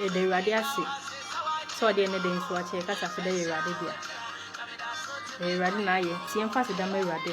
Yɛda Awurade ase sɛ ɔde ɛne de nso akyɛ yɛkasa so dɛ yɛ Awurade dea. Ɛyɛ Awurade na ayɛ nti yɛmfa aseda ma Awurade.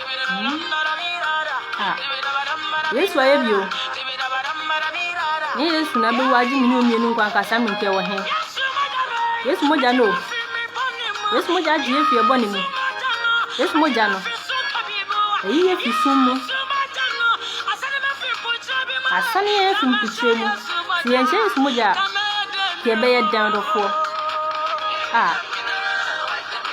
Yesu ayɛ bio. Nye Yesu na bɛwu agye mene omienu nkwa nkasa me nkɛ wɔ he. Yesu mogya no o. Yesu mogya agye yɛ fi ɛbɔ ne mu. Yesu mogya no. Eyi yɛ fi sum mu. Asane yɛ fi mpikyerɛ mu. Sɛ yɛnhyɛ Yesu mogya a, kɛ bɛyɛ dɛn dɔfoɔ. Ah.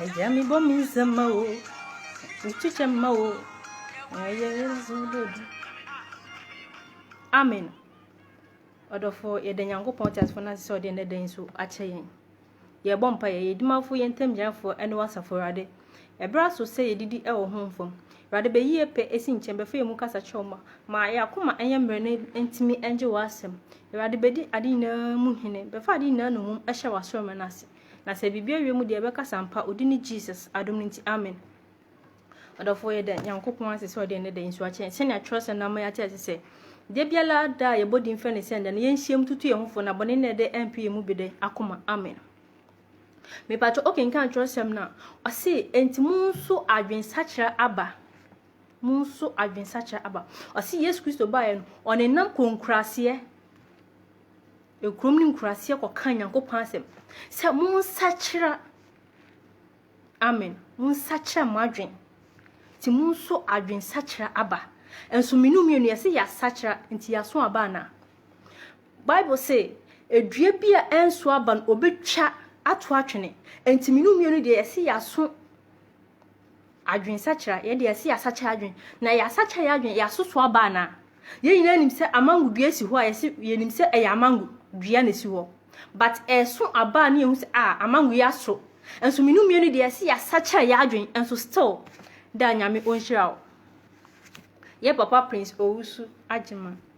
Agya me bɔ me nsa ma o, nkyekyɛ ma o, ɛyɛ nso dɛ bi. Amen. Ɔdɔfo yɛda Nyankopɔn teasefo no ase sɛ ɔde nnɛ da yi so akyɛ yɛn. Yɛbɔ mpa yɛ yɛ dimafo yɛ ntam gyinafoɔ ɛne wasafo Awurade. Ɛberɛ aso sɛ yɛdidi ɛwɔ ho mfam. Awurade bɛyi yɛ pɛ ɛsi nkyɛn bɛfa yɛ mu kasa kyerɛ ma ma yɛ akoma ɛnyɛ mmerɛ no ntumi ɛngye wɔ asɛm. Awurade bɛdi ade nyinaa mu hene bɛfa ade nyinaa nomum ɛhyɛ wɔ asɔrima no ase. Na sɛ biribi awie mu deɛ ɛbɛkasa ampa odi ne Jesus adom no nti amen Ɔdɔfoɔ yɛda Nyankopɔn ase sɛ ɔde ɛnɛ da nsu akyɛ sɛnea twerɛsɛm no ama yɛate ase sɛ da biara da a yɛbɔ din fɛ ne sɛ ɛnda no yɛnhyiam tutu yɛn ho fo na bɔne nnɛ dɛ ɛmpe yɛn mu bi dɛ akoma amen mepatwɛ okenkan twerɛsɛm no a ɔse enti mo nso adwensakyera aba mo nso adwensakyera aba ɔse Yesu Kristo baeɛ no ɔnenam konkuraaseɛ Ekurom ne nkuraseɛ kɔkaa Nyankopɔn asɛm sɛ, Monsakyera, amen, monsakyera mo adwen, nti monso adwensakyera aba. Nso menu mmienu yɛse yɛasakyera, nti yɛaso aba anaa? Bible se, Edua bi a ɛnso aba no, wɔbɛtwa ato atwene, nti menu mmienu deɛ yɛse yɛaso Adwensakyera, yɛde ase yɛasakyera adwene. Na yɛasakyera yɛn adwene, yɛasoso aba anaa? Yɛn nyinaa nim sɛ amango dua si hɔ a, yɛse yɛnim sɛ ɛyɛ amango dua na esi hɔ. But ɛso aba a na yɛhu sɛ ah, amango yi aso. Nso mmienu mmienu deɛ yɛse yɛasakyera yɛn adwene, nso still da Nyame ɔnhyira wo. Yɛn papa Prince Owusu Agyeman.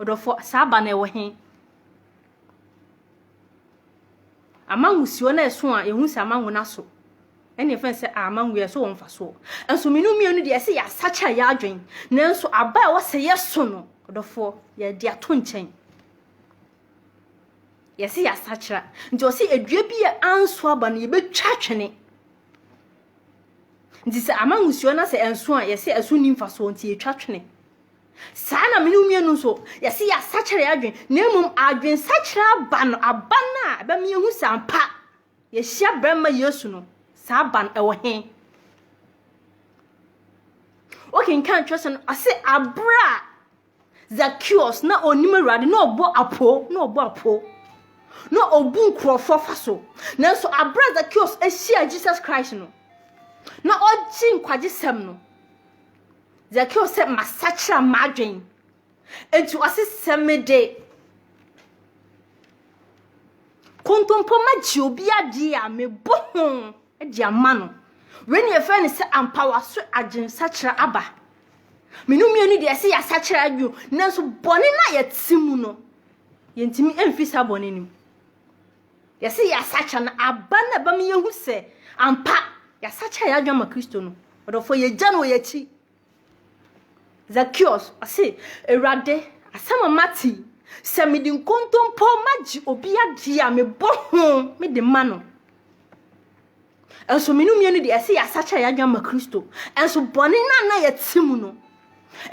Ɔdɔfo, saa ba no ɛwɔ he? Amangusuo no ɛso a, yɛhu sɛ amangu no aso. Ɛne yɛfrɛ no sɛ amangu, ɛso wɔ mfasoɔ. Nso mmienu mmienu deɛ ɛsɛ yɛasakyera yɛ adwene. Nanso aba a ɛwɔ sɛ yɛso no, ɔdɔfoɔ, yɛde ato nkyɛn. Yɛsɛ yɛasakyera. Nti ɔsɛ adua bi a anso aba no, yɛbɛtwa atwene. Nti sɛ amangusuo no sɛ ɛnso a, yɛsɛ ɛso nni mfasoɔ nti yɛtwa twene. Saa ara na me ne wo mmienu nso, yɛse yɛasakyera yɛn adwene, na mmom adwensakyera aba no, aba no a ɛbɛma yɛhu sɛ ampa yɛhyia barima Yesu no, saa aba no ɛwɔ he? Wokenkan twerɛsɛm no, ɔse aberɛ a Zacchaeus na ɔnim Awurade na ɔbɔ apo, na ɔbɔ apo, na ɔbu nkurɔfoɔ fa so. Nanso aberɛ a Zacchaeus ahyia Jesus Christ no, na ɔgye nkwagyesɛm no, Zekeo sɛ, Masakyera m'adwen. Enti ɔse, Sɛ mede kontompo ma gye obi adeɛ a, mebɔ ho de ama no. Wei ne yɛfrɛ no sɛ ampa waso adwen sakyera aba. Mene mmienu deɛ ɛsɛ yɛasakyera adwen, nanso bɔne no a yɛte mu no, yɛntumi mfi saa bɔne no mu. Yɛse yɛasakya no aba na ɛbɛma yɛahu sɛ ampa yɛasakya yɛn adwene ama Kristo no. Ɔdɔfoɔ, yɛgya no wɔ yɛn akyi. Zakeus, ɔse, Awurade, asɛm a mate yi, sɛ mede nkontompo magye obi adeɛ a, mebɔ ho mede ma no. Ɛnso menu mmienu deɛ ɛse yɛasakya yɛn adwene ama Kristo. Ɛnso bɔne no a na yɛte mu no,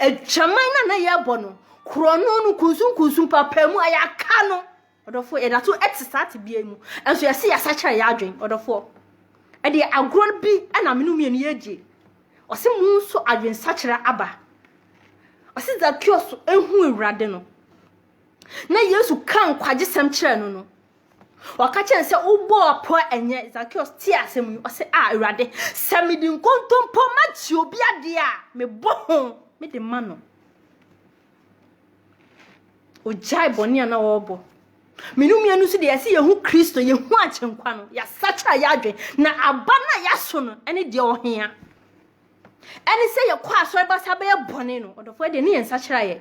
adwaman no a na yɛrebɔ no, korɔno no, kunsunkunsun, paapaemu a yɛaka no, Ɔdɔfoɔ, yɛda so te saa tebea yi mu, nso yɛse yɛsakyera yɛ adwen. Ɔdɔfoɔ, ɛdeɛ agorɔ no bi na mene wo mmienu yɛredie. Ɔse mo nso adwensakyera aba. Ɔse Zakeus ehu Awurade no, na Yesu ka nkwagye-sɛm kyerɛɛ no no, ɔka kyerɛ no sɛ, wobɔɔ apɔ ɛnyɛ. Zakeus tee asɛm yi, ɔse, a Awurade, sɛ mede nkontompo magye obi adeɛ a, mebɔ ho mede ma no. Ogyae bɔne a na ɔrebɔ. Me ne mmea no nso deɛ yɛsɛ yɛhu Kristo, yɛhu agyenkwa no, yɛasakyera yɛ adwene. Na aba no a yɛaso no ne deɛ ɔhea. Ɛne sɛ yɛkɔ asɔre ba saa bɛyɛ bɔne no, ɔdɔfoɔ deɛ ne yɛn nsakyera yɛ.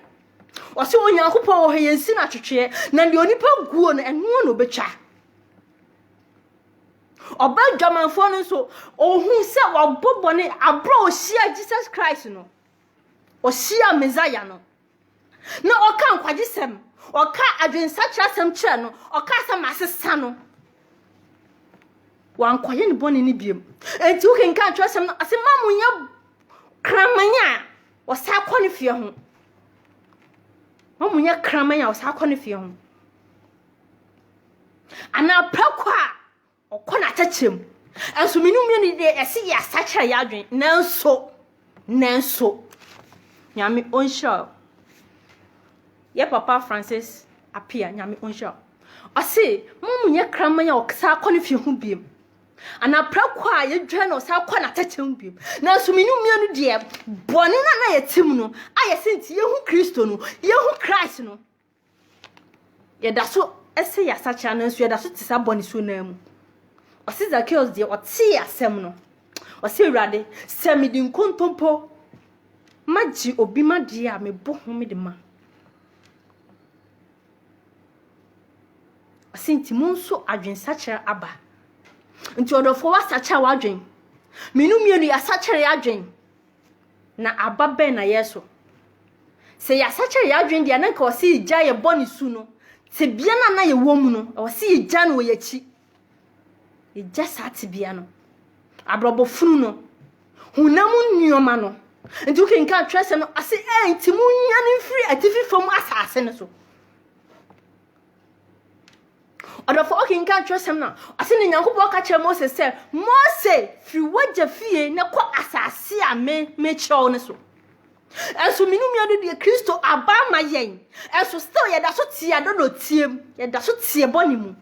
Ɔsɛ Onyankopɔn wɔ hɔ yɛnsi no atwetweɛ, na deɛ onipa guo no ɛnoɔ na ɔbɛtwa. Ɔba adwamanfoɔ no nso, ɔhu sɛ wabɔ bɔne aberɛ a ɔhyia Jesus Christ no. Ɔhyiaa Mesaia no, na ɔka nkwagyesɛm, ɔka adwensakyerɛsɛm kyerɛ no, ɔka sɛ masesa no. Wankɔyɛ ne bɔne no biom. Enti wokenkan kyerɛsɛm no ase ma mo nyɛ kraman a ɔsa kɔ ne fie ho. Ma mo nyɛ kraman a ɔsa kɔ ne fie ho. Anaa prako a Ɔkɔ n'atɛkyɛ mu. Nso mmienu mmienu yi deɛ yɛse yɛasakyera yɛ adwene nanso nanso nyame ɔnhyira o yɛ papa francis apia nyame ɔnhyira o ɔse mo mo nyɛ kraman a ɔsaa kɔ ne fie ho biem anaa prako a yɛdwa na ɔsaa kɔ n'atɛkyɛ mu biem nanso mmienu mmienu deɛ bɔne no a na yɛte mu no a yɛse nti yɛhu kristo no yɛhu christ no Yɛda so sɛ yɛasakyera, nanso yɛda so te saa bɔne su no ara mu. Ɔse Zakeus deɛ ɔtee asɛm no, ɔse Awurade, sɛ mede nkontompo magye obi ma deɛ a mebɔ ho mede ma. Ɔse nti mo nso adwensakyera aba. Nti ɔdɔfoɔ wasakyera w'adwen. Mmienu mmienu yɛasakyera yɛadwen. na aba bɛn na yɛreso? Sɛ yɛasakyera yɛn adwene deɛ na nka ɔsɛ yɛgya yɛ bɔ ne su no tebea no a na yɛwɔ mu no ɛwɔ sɛ yɛgya no wɔ yɛakyi yɛgya saa tebea no abrabɔ funu no honam nneɛma no nti wokenkan twerɛsɛm no ase ɛ nti monyane mfiri atifi fam asase no so Ɔdɔfo, ɔkenkan twerɛsɛm no a, ɔse ne Nyankopɔn ka kyerɛ Mose sɛ, Mose, firi w'agya fie na kɔ asase a me mekyerɛ wo no so. Ɛnso me ne nua no deɛ Kristo aba ama yɛn. Ɛnso still yɛda so te adɔdɔteɛ mu, yɛda so teɛ bɔne mu.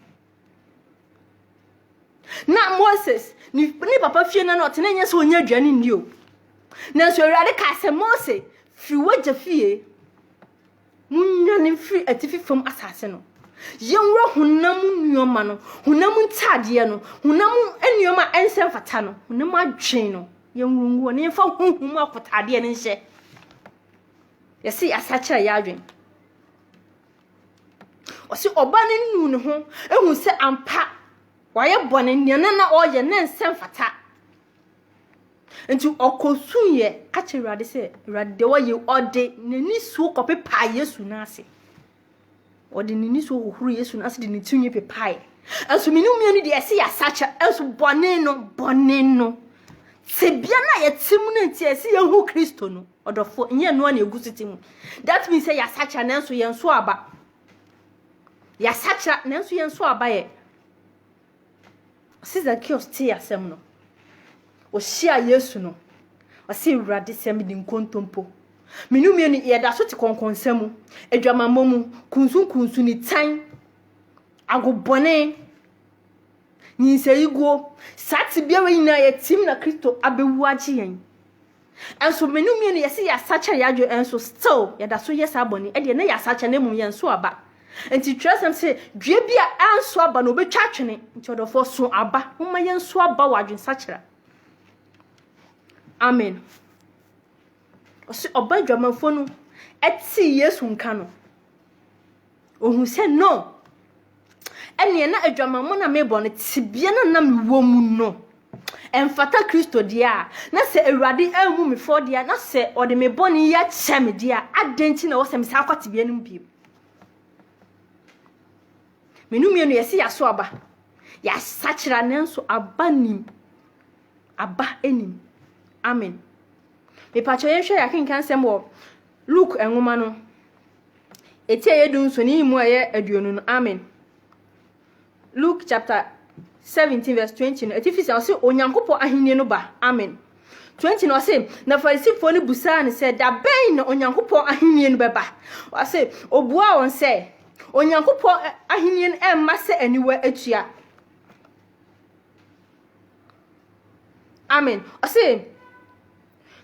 Na Moses ne papa fie no na ɔte na ɛnyɛ sɛ ɔnya aduane nni o. Nanso Awurade kaa sɛ Mose firi w'agya fie Munnwane mfiri atifi fam asase no. Yɛnwura honam mu nneɛma no, honam mu ntadeɛ no, honam mu nneɛma a ɛnsɛ mfata no, honam mu adwene no, yɛnwura ngu hɔ na yɛmfa honhom mu akotadeɛ no nhyɛ. Yɛse yɛasakyera yɛ adwene. Ɔse ɔba no nnu ne ho ehu sɛ ampa wayɛ bɔne nea na na ɔyɛ na ɛnsɛ mfata. Enti ɔkɔsuiɛ ka kyerɛɛ Awurade sɛ, Awurade, deɛ ɔyɛ yi, ɔde n'anisuo kɔpepaa Yesu no ase. Ɔde n'anisuo hohoro Yesu no ase de ne tirinwi pepaeɛ. Nso mene mmienu deɛ ɛsɛ yɛasakyɛ, nso bɔne no, bɔne no. Tebea no a yɛte mu no nti a ɛsɛ yɛhu Kristo no, ɔdɔfo, nyɛ ɛno a na ɛgu so te mu. That means sɛ yɛasakyɛ nanso yɛn so aba. Yɛasakyɛ nanso yɛn so aba yɛ. Ɔse Zakeus tee asɛm no, ɔhyiaa Yesu no, ɔse, Awurade, sɛ mede nkontompo, me no mmienu yi, yɛda so te kɔnkɔnsa mu, adwamammɔ mu, kunsunkunsu, nitan, agobɔne, nyinsɛnguo, saa tebea wei nyinaa yɛtim na Kristo abɛwu agye yɛn. Nso me ne wo mmienu yɛse yɛasakyera yɛadwene nso still yɛdaso yɛ saa bɔne ɛdeɛ na yɛasakyera na mmom yɛnso aba nti twerɛsɛm se dua bi a anso aba no obɛtwa atwene nti ɔdɔfoɔ so aba momma yɛnso aba wɔ adwensakyera amen ɔse ɔba adwamanfoɔ no ɛte yesu nka no Ohun sɛ, No! Ɛnneɛ na adwamammɔ no a mebɔ no, tebea no a na mewɔ mu no, ɛmfata Kristo deɛ a. Na sɛ Awurade ammu me fɔ deɛ a, na sɛ ɔde me bɔne yi akyɛ me deɛ a, adɛn nti na ɛwɔ sɛ mesan kɔ tebea no mu bio? Me no mmienu yɛse yɛaso aba. Yɛasakyera nanso aba nim. Aba nim. Amen. Mepakyɛ yɛnhwɛ yɛakenkan sɛm wɔ Luke nwoma no. Etsia a yedu nso, ne nyimu a ɔyɛ eduonu no, amen. Luke chapter seventeen verse twenty no, etsifi sɛ ɔse Onyankopɔn ahenyi no ba, amen. Twenty no, ɔse, Na Farisifoɔ no bisaa no sɛ, Dabɛn na Onyankopɔn ahenyi no bɛba? Ɔse, obuaa hɔn sɛ, Onyankopɔn ahenyi no mma sɛ aniwa etua, amen. Ɔse,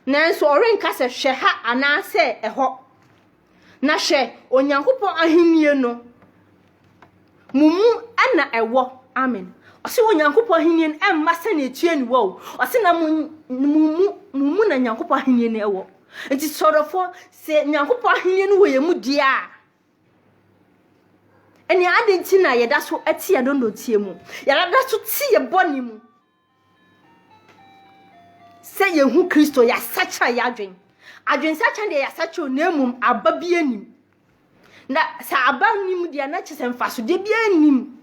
Nanso ɔrenka sɛ, 'Hwɛ ha' anaasɛ 'Ɛhɔ. Na hwɛ, Onyankopɔn ahenni no, mo mu na ɛwɔ. Amen. Ɔse Onyankopɔn ahenni no ɛmma sɛnea etua ni wɔ o. Ɔse na mo mu na Nyankopɔn ahenni no ɛwɔ. Nti sɔrɔfoɔ, sɛ Nyankopɔn ahenni no wɔ yɛn mu deɛ a, ɛnea adi nti na yɛda so ɛte yɛn dɔndɔnteɛ mu, yɛda so te yɛn bɔne mu, Sɛ yɛhu Kristo, yɛasakyera yɛ adwen. Adwensakyera deɛ yɛasakyera na mmom aba bi anim. Na sɛ aba nim deɛ na kyɛ sɛ mfasodeɛ bi anim.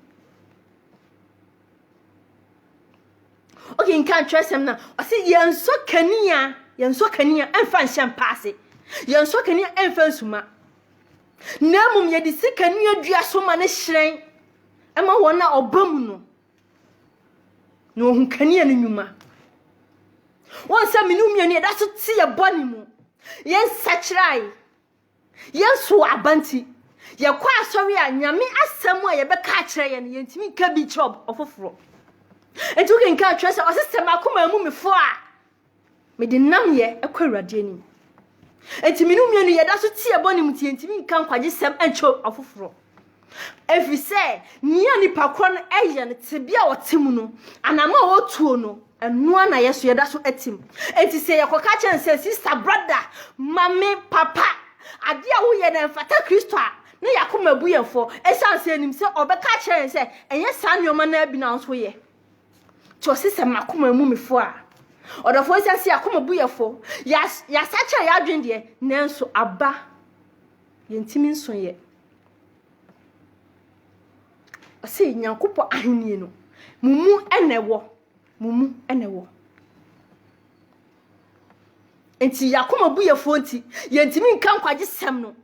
Okay, nka nkyerɛsɛm na ɔsɛ yɛnsɔ kanea, yɛnsɔ kanea ɛmfa nhyɛ mpa ase. Yɛnsɔ kanea ɛmfa nsuma. Na mmom yɛde si kanea dua so ma no hyerɛn ɛma wɔn a ɔba mu no. Na ohu kanea no nnwuma. Wɔn sɛ mene mmienu yɛda so te yɛ bɔne mu. Yɛn sakyerae, yɛn so aba nti, yɛkɔ asɔre a nyame asɛm a yɛbɛka akyerɛ yɛn no yɛntumi nka bi kyerɛ ɔfoforɔ. Nti wokenka atwerɛ sɛ ɔsesɛ makoma mu mefo a Mede nnamyɛ kɔ Awurade anim. Enti me ne wo mmienu yɛda so teɛ bɔne mu nti yɛntumi nka nkwagyesɛm nkyerɛ afoforɔ. Ɛfiri sɛ nea nipa korɔ no yɛ no, tebea a ɔte mu no, anamɔ a ɔtuo no, ɛno ara na yɛ so yɛda so tim. Enti sɛ yɛkɔka kyerɛ no sɛ, sista, brada, mame, papa, adeɛ a woyɛ no ɛmfata Kristo a, na yɛn akoma bu yɛn fɔ, ɛsiane sɛ yɛnim sɛ ɔbɛka akyerɛ yɛn sɛ ɛnyɛ saa nneɛma no ara bi na wo nso woyɛ. Nti ɔse sɛ makoma emu mefo a ɔdɔfo ɛsiane sɛ yakoma bu yɛfo yasa kyerɛ yadwen deɛ nanso aba yɛntimi nso yɛ ɔse nyankopɔ ahenni no mumu ɛna ɛwɔ mumu ɛna ɛwɔ nti yakoma bu yɛfo nti yɛntimi nka nkwagye sɛm no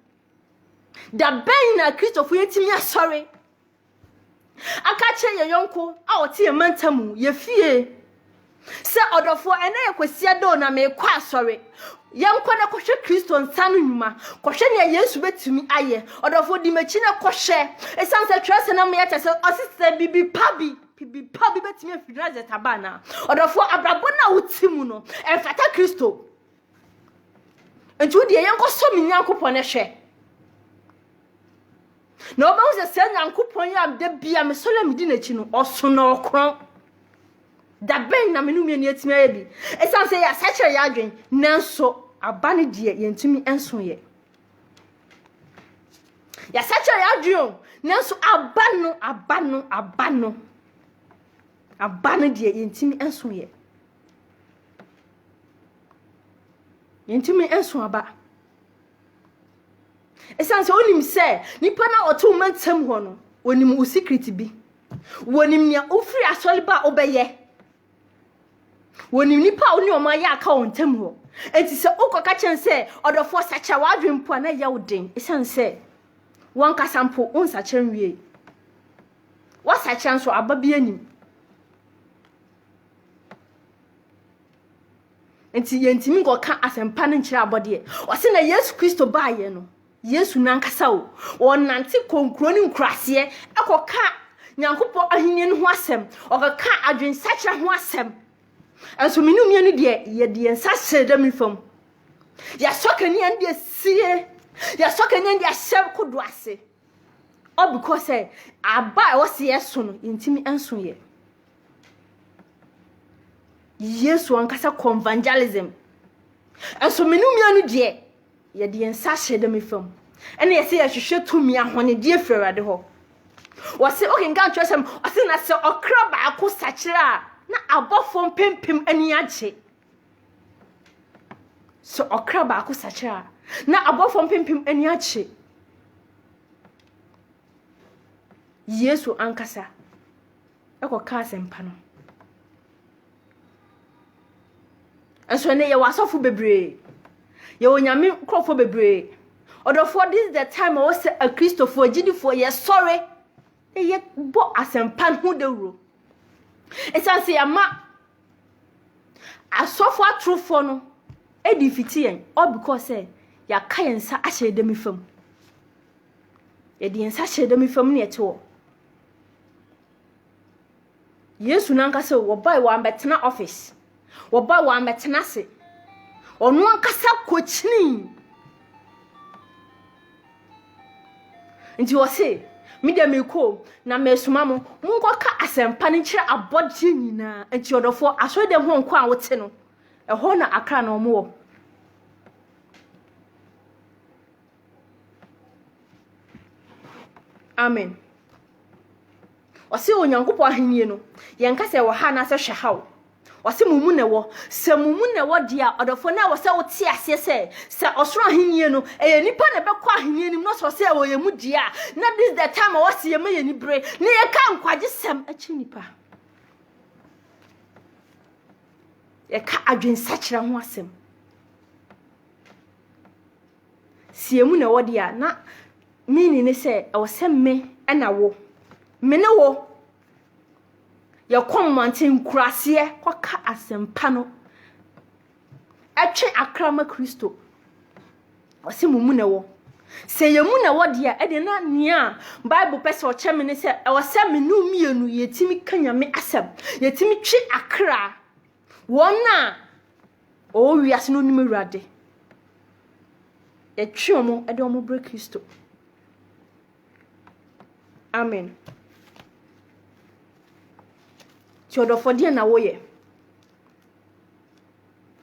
da bɛn na kristofo yɛntimi asɔre Aka akyerɛ yɛn yɔnko a ɔte yɛn mantam mu, yɛn fie, sɛ, Ɔdɔfoɔ, ɛnnɛ yɛ Kwasiada o, na merekɔ asɔre. Yɛnkɔ na kɔhwɛ Kristo nsa no nnwuma. Kɔhwɛ nea Yesu bɛtumi ayɛ. Ɔdɔfoɔ, di m'akyi na kɔhwɛ. Ɛsiane sɛ twerɛsɛm no ama yɛate sɛ ɔse sɛ biribi pa bi, biribi pa bi bɛtumi afiri Nasaret aba anaa? Ɔdɔfoɔ, abrabɔ no a wote mu no, ɛmfata Kristo. nti wo deɛ yɛnkɔsɔ me nyankopɔn hwɛ na wobɛhu sɛ saa nyankopɔn yi a da bia mesɔre a medi n'akyi no ɔso na ɔkorɔn da bɛn na mene mmienu atumi ayɛ bi ɛsiane sɛ yɛasakyerɛ yɛ adwen nanso aba no deɛ yɛntumi nso yɛ yɛasakyerɛ yɛ adwen o nanso aba no aba no aba no aba no deɛ yɛntumi nso yɛ Yɛntumi nso aba. Ɛsiane sɛ wonim sɛ nipa na ɔte wo mantam hɔ no, wonim wo secret bi. Wonim nea wofiri asɔre ba a wobɛyɛ. Wonim nipa a wo ne ɔmo ayɛ aka wɔn ntam hɔ. Enti sɛ wokɔka kyɛn sɛ ɔdɔfoɔ sakyera w'adwene mpo a na ɛyɛ wo den ɛsiane sɛ wankasa mpo wonsakyera nwie. Wasakyera nso aba bi anim. Nti yɛntumi nkɔka asɛmpa no nkyerɛ abɔdeɛ. Ɔse na Yesu Kristo baayɛ no, Yesu nankasa o, ɔnante kɔ nkuro ne nkuraseɛ ɛkɔka Nyankopɔn ahennie no ho asɛm, ɔkɔka adwensakyera ho asɛm. Ɛnso mene mmienu deɛ yɛde yɛn nsa hyɛ dɛm nifa mu. Yɛasɔ kanea no deɛ sie, yɛasɔ kanea no deɛ ahyɛ kodo ase. All because sɛ aba a ɛwɔ sɛ yɛso no yɛntumi nso yɛ. Yesu ankasa kɔ evangelism. Nso me no mia no deɛ yɛde yɛn nsa ahyɛ dɛm fam ɛna yɛsɛ yɛhwehwɛ tumi ahɔnedi afiri awurade hɔ wɔse wokenka nkyerɛsɛm ɔse na sɛ ɔkra baako sakyerɛ a na abɔfoɔ mpempem ani agye sɛ ɔkra baako sakyerɛ a na abɔfoɔ mpempem ani agye yesu ankasa kɔka asɛmpa no. Nso ɛnɛ yɛwɔ asɔfo bebree. Yɛwɔ nyame nkurɔfoɔ bebree. Ɔdɔfoɔ this is the time a wɔsɛ akristofoɔ agyidifoɔ yɛsɔre na yɛbɔ asɛmpa no ho dawuro. Ɛsiane sɛ yɛama asɔfo atorofoɔ no adi fiti yɛn all because sɛ yɛaka yɛn nsa ahyɛ ɛdɛm fam. Yɛde yɛn nsa hyɛ ɛdɛm fam ne yɛte hɔ. Yesu no ankasa o, wɔbae wɔammɛtena office. Wɔbae wɔammɛtena ase. Ɔno ankasa kokyinii. Nti ɔse, me deɛ merekɔ o, na meresoma mo, monkɔka asɛmpa no nkyerɛ abɔdeɛ nyinaa. Nti ɔdɔfoɔ, asɔredɛm hɔ nko a wote no, ɛhɔ na akra na wɔn wɔ. Amen. Ɔse Onyankopɔn ahenni no, yɛnka sɛ ɛwɔ ha anaasɛ hwɛ ha o. Ɔse mo mu na ɛwɔ. Sɛ mo mu na ɛwɔ deɛ a, ɔdɔfoɔ no a wɔ sɛ wote aseɛ sɛ, sɛ ɔsoro ahenni no, ɛyɛ nipa na ɛbɛkɔ ahenni anim na ɔsɛ sɛ ɛwɔ yɛn mu deɛ a, na this the time a wɔse yɛma yɛn ani bere na yɛka nkwagye sɛm kyerɛ nipa. Yɛka adwensakyera ho asɛm. Sɛ emu na ɛwɔ deɛ a, na meaning ne sɛ ɛwɔ sɛ me ɛna wo. Me ne wo. Yɛkɔ mmɔnten, nkuraseɛ kɔka asɛmpa no. Ɛtwe akra ma Kristo. Ɔse mo mu na ɛwɔ. Sɛ yɛn mu na ɛwɔ deɛ a, ɛdeɛ na nea Bible pɛ sɛ ɔkyɛ me ne sɛ ɛwɔ sɛ me ne wo mmienu yɛtumi ka Nyame asɛm. Yɛtumi twe akra. Wɔn a wɔwɔ wiase no nim Awurade. Yɛtwe wɔn de wɔn brɛ Kristo. Amen. Ti ɔdɔfo deɛ na woyɛ.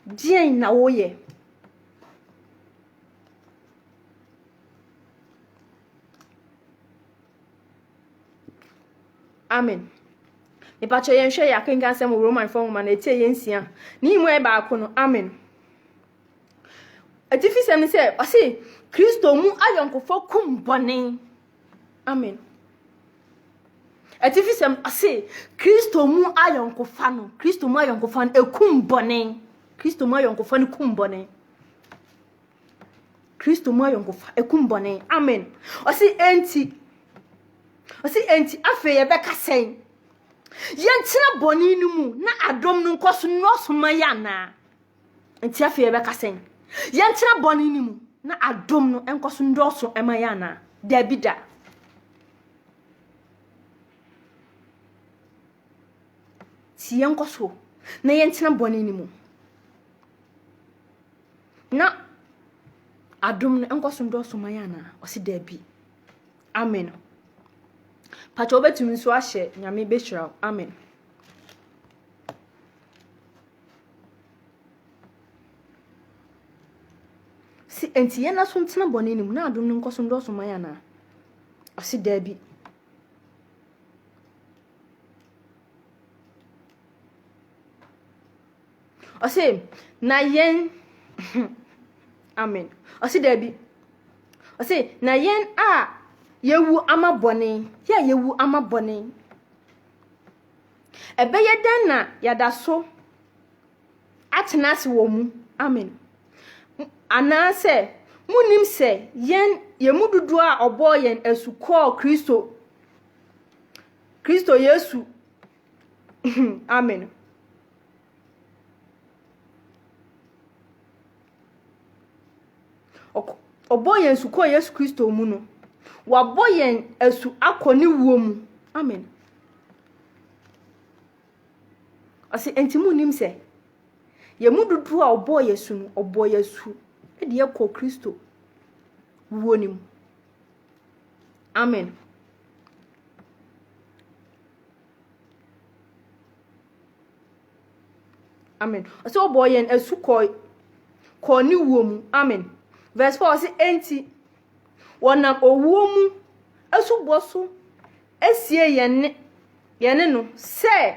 Deɛn na woyɛ. Amen. Mepakyɛ yɛn hwɛ yɛ akenka asɛm wɔ Roman fɔ nwoma na etie yɛn nsia. Ne yi mu yɛ baako no. Amen. Atifi sɛm ne sɛ ɔse Kristo mu ayɔnkofo kum bɔne. Amen. Atifi sɛm ɔse Kristo mu ayɔnkofa no Kristo mu ayɔnkofa no ekum bɔne. Kristo mu ayɔnkofa no kum bɔne. Kristo mu ayɔnkofa ekum bɔne. Amen. Ɔsi enti. Ɔsi enti afei yɛbɛka sɛn? Yɛntena bɔne no mu na adom no nkɔ so nnɔɔso ma yɛ anaa? Enti afei yɛbɛka sɛn? Yɛntena bɔne no mu na adom no nkɔ so nnɔɔso ma yɛ anaa? Daabi da. Ti yɛnkɔ so na yɛntena bɔne no mu. Na adom no nkɔ so ndɔɔso ma yɛn anaa? Ɔse daabi. Amen. Pakyɛ wobɛtumi nso ahyɛ Nyame bɛhyira wo. Amen. Se enti yɛn aso ntena bɔne no mu na adom no nkɔ so ndɔɔso ma yɛn anaa? Ɔse daabi. Ɔse na yɛn Amen Ɔse daabi Ɔse na yɛn a yɛwu ama bɔne Yɛ a yɛwu ama bɔne Ɛbɛyɛ dɛn na yɛada so atena ase wɔ mu Amen Anaasɛ monim sɛ yɛn yɛn mu dodoɔ a ɔbɔɔ yɛn asu kɔɔ Kristo Kristo Yesu Amen o. Ɔk ɔbɔɔ yɛn asu kɔɔ Yesu Kristo mu no, wabɔ yɛn asu akɔ ne wuo mu. Amen. Ɔse, enti mu nim sɛ, yɛn mu dodoɔ a ɔbɔɔ yɛn asu no, ɔbɔɔ yɛn asu de yɛkɔɔ Kristo wuo no mu. Amen. Amen. Ɔsɛ ɔbɔ yɛn asu kɔɔ kɔɔ ne wuo mu. Amen. Verse four ɔsɛ enti wɔnam owuo mu asubɔ so asie yɛn ne yɛn ne no sɛ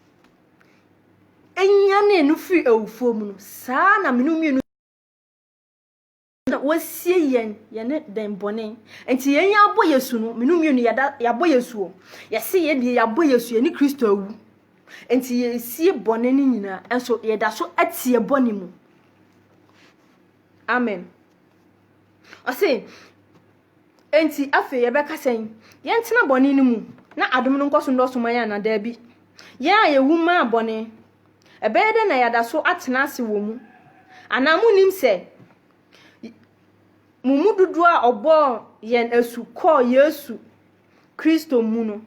nyanee no firi awufoɔ mu no, saa ara na mene mmienu na wɔasie yɛn yɛne dɛn bɔne. Nti yɛn yɛn abɔ Yesu no, mene mmienu yɛda yɛabɔ Yesu o. Yɛse yɛn deɛ yɛabɔ Yesu, yɛne Kristo awu. Nti yɛsie bɔne no nyinaa, nso yɛda so ateɛ bɔne mu. Amen. Ɔse, Enti afei yɛbɛka sɛn? Yɛntena bɔne no mu na adom no nkɔ so nnɔɔso ma yɛn anaa? Dabi. Yɛn a yewu maa bɔne, ɛbɛyɛ dɛn na yɛada so atena ase wɔ mu? Anaa munnim sɛ mo mu dodoɔ a ɔbɔɔ yɛn asu kɔɔ Yesu Kristo mu no,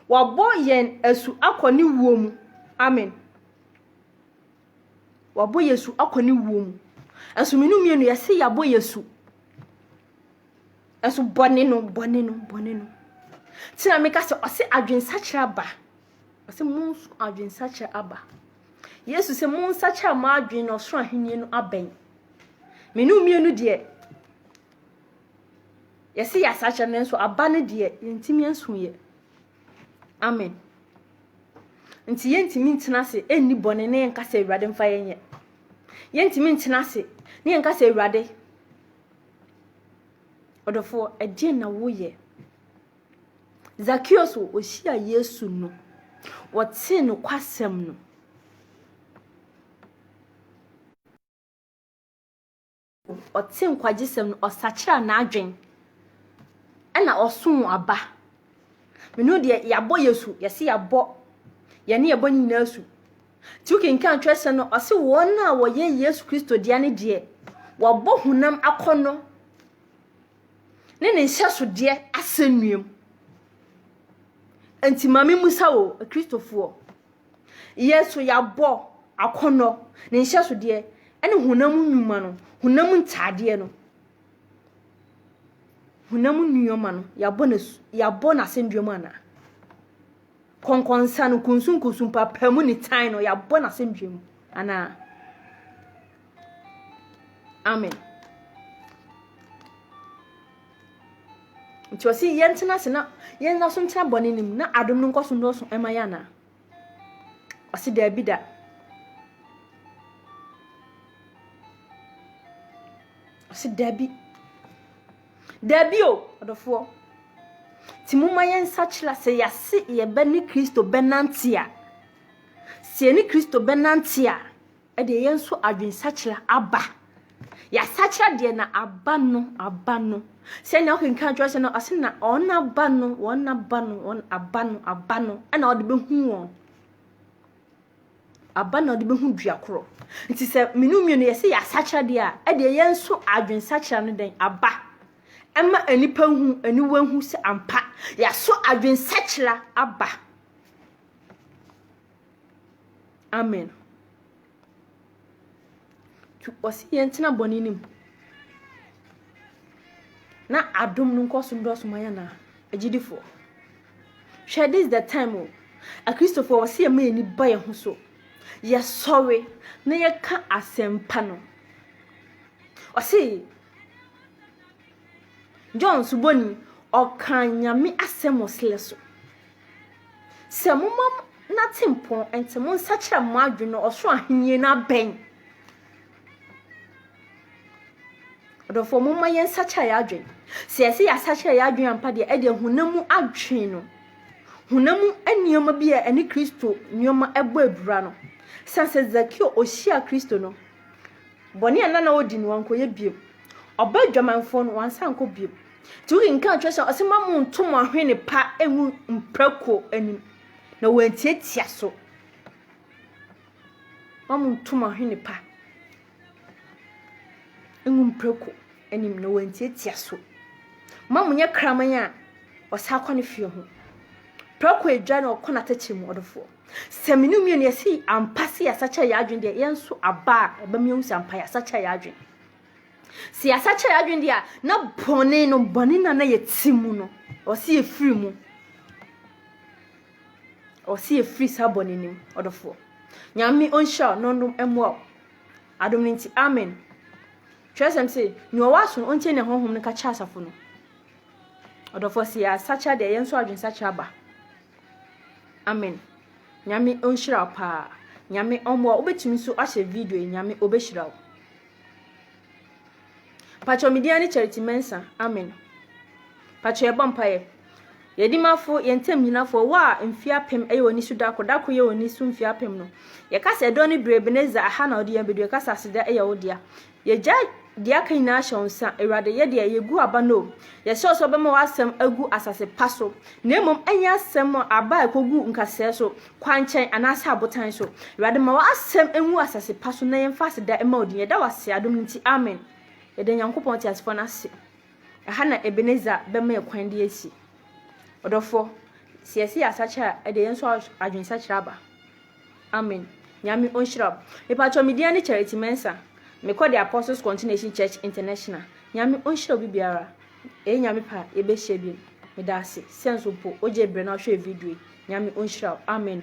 wabɔ yɛn asu akɔ ne wuo mu? Amen. Wabɔ yɛn asu akɔ ne wuo mu. Nso mmienu mmienu yɛse yɛabɔ yɛn asu. Ɛso bɔne no, bɔne no, bɔne no. Ti na meka sɛ ɔse adwensakyerɛ aba. Ɔse mo nso adwensakyerɛ aba. Yesu sɛ mo nsakyerɛ mo adwen na ɔsoro ahenni no abɛn. Mene mmienu deɛ yɛse yɛasakyerɛ no nso aba no deɛ yɛntumi ansu yɛ. Amen. Nti yɛntumi ntena ase ɛnni bɔne ne yɛnka sɛ awurade mfa yɛnyɛ. Yɛntumi ntena ase ne yɛnka sɛ awurade Ɔdɔfoɔ, ɛdeɛn na woyɛ? Zakeo so ɔhyiaa Yesu no, wɔtee nokwasɛm no. Ɔte nkwagyesɛm no, ɔsakyera n'adwen, ɛna ɔsoo aba. Menu deɛ yɛabɔ yɛ su, yɛse yɛabɔ yɛne yɛbɔ ne nyinaa su, Nti wokenkan twerɛsɛm no ɔse wɔn a wɔyɛ Yesu Kristo dea no deɛ wɔabɔ honam akɔnnɔ ne ne nhyɛsodeɛ asɛnnuam. Nti ma memmusa wo Kristofoɔ, yɛ so yɛabɔ akɔnnɔ ne nhyɛsodeɛ ne honam nnwuma no, honam ntaadeɛ no, honam nneɛma no, yɛabɔ no asɛnnuam anaa? Kɔnkɔnsa no, kunsunkunsun, mpaapaemu ne tan no, yɛabɔ no asɛndua mu. Anaa? Amen. Nti ɔse yɛntena ase na yɛnna so ntena bɔne no mu na adom no nkɔ so nnɔɔso ɛma yɛ anaa? Ɔse daabi da. Ɔse daabi. Dabi o, ɔdɔfoɔ. Nti momma yɛnsakyera a, sɛ yɛase yɛbɛne Kristo bɛnante a, sɛ yɛne Kristo bɛnante a, ɛdeɛ yɛn nso adwensakyera aba. Yɛasakyera deɛ na aba no, aba no. Sɛnea wokenkan atwerɛsɛm no, ɔse na wɔn aba no, wɔn aba no, wɔn aba no, aba no, ɛna wɔde bɛhu wɔn. Aba na ɔde bɛhu dua korɔ. Nti sɛ mene wo mmienu yɛse yɛasakyera deɛ a, ɛdeɛ yɛn nso adwensakyera no dɛn? Aba. Ɛma nnipa hu, aniwa hu sɛ ampa yɛaso adwensakyera aba. Amen. Ɔse yɛn tena bɔne no mu na adom no nkɔ so ndɔɔso ma yɛn a agyidifoɔ hwɛ this the time o akristofoɔ wɔ se yɛma yɛn ani ba yɛn ho so yɛsɔre na yɛka asɛmpa no ɔse john suboni ɔka nyame asɛm wɔ selɛ so Sɛ moma n'atempɔn nti monsakyera mo adwene no ɔsoro ahenni no abɛn. Ɔdɔfoɔ moma yɛn nsakyera yɛ adwene. Sɛ yɛsɛ yɛasakyera yɛ adwene ampa deɛ ɛdeɛ honam mu adwene no honam mu nneɛma bi a ɛne Kristo nneɛma ɛbɔ abira no. Sɛ sɛ Zakeo ɔhyia Kristo no bɔne a na na ɔdi no wankɔyɛ biom. Ɔba adwamanfoɔ no wansa ankɔ biom. Nti wokenkan kyerɛsɛm ɔse ma mo nto mo ahwene pa ngu mprako anim na wɔantiatia so ma mo nto mo ahwene pa ngu mprako anim na wɔantiatia so ma mo nyɛ kraman a ɔsa akɔ ne fie ho prako adwa na ɔkɔ n'atɛkyɛ mu ɔdofoɔ sɛ mene mmienu yɛse ampa se yɛasakyɛ yɛ adwene deɛ yɛn nso aba a ɛbɛma yɛhu sɛ ampa yɛasakyɛ yɛ adwene Sɛ yɛasakyera yɛn adwene deɛ a, na bɔne no, bɔne no a na yɛte mu no, ɔse yɛfiri mu. Ɔse yɛfiri saa bɔne no mu, ɔdɔfoɔ. Nyame ɔnhyira wo na ɔnom mmoa wo. Adom no nti, amen. Twerɛsɛm se, nea ɔwɔ aso no, ɔntie nea Honhom no ka kyerɛ asafo no. Ɔdɔfoɔ, sɛ yɛasakyera deɛ, yɛn nso adwensakyera aba. Amen. Nyame ɔnhyira wo paa. Nyame ɔmmoa wo. Wobɛtumi nso ahyɛ video yi, Nyame ɔbɛhyira wo. Pakyɛw me din ara ne Charity Mensah. Amen. Pakyɛw yɛbɔ mpaeɛ. Yɛn dimafo, yɛn ntam nyinafo, wɔ a mfie apem yɛ wɔn so da koro, da koro yɛ wɔn so mfie apem no. Yɛka sɛ ɛdɔ ne bere Ebenezer, aha na ɔde yɛn bɛdu. Yɛka sɛ aseda yɛ wo dea. Yɛgya deɛ aka nyinaa hyɛ wo nsa. Awurade, yɛ deɛ yɛgu aba no o. Yɛsrɛ wo sɛ wobɛma w'asɛm agu asase pa so, na mmom ɛnyɛ asɛm a aba a ɛkɔgu nkasɛɛ so. kwankyɛn anaasɛ abotan so. Awurade ma w'asɛm nwu asase pa so na yɛmfa aseda mma wo din. Yɛda wo ase adom no nti, amen. Yɛda Nyankopɔn teasefoɔ no ase. Ɛha na Ebenezer bɛma yɛ kwan de asi. Ɔdɔfoɔ, sɛ yɛse yɛ asakyera a, ɛdeɛ yɛn nso adwensakyera aba. Amen. Nyame ɔnhyira wo. Mepakyɛ me din ne Charity Mensah. Mekɔ the Apostles Continuation Church International. Nyame ɔnhyira obi biara. Eyi Nyame pɛ a yɛbɛhyia bio. Medaase sɛ nso mpo wogye berɛ na wohwɛɛ video yi. Nyame ɔnhyira wo. Amen.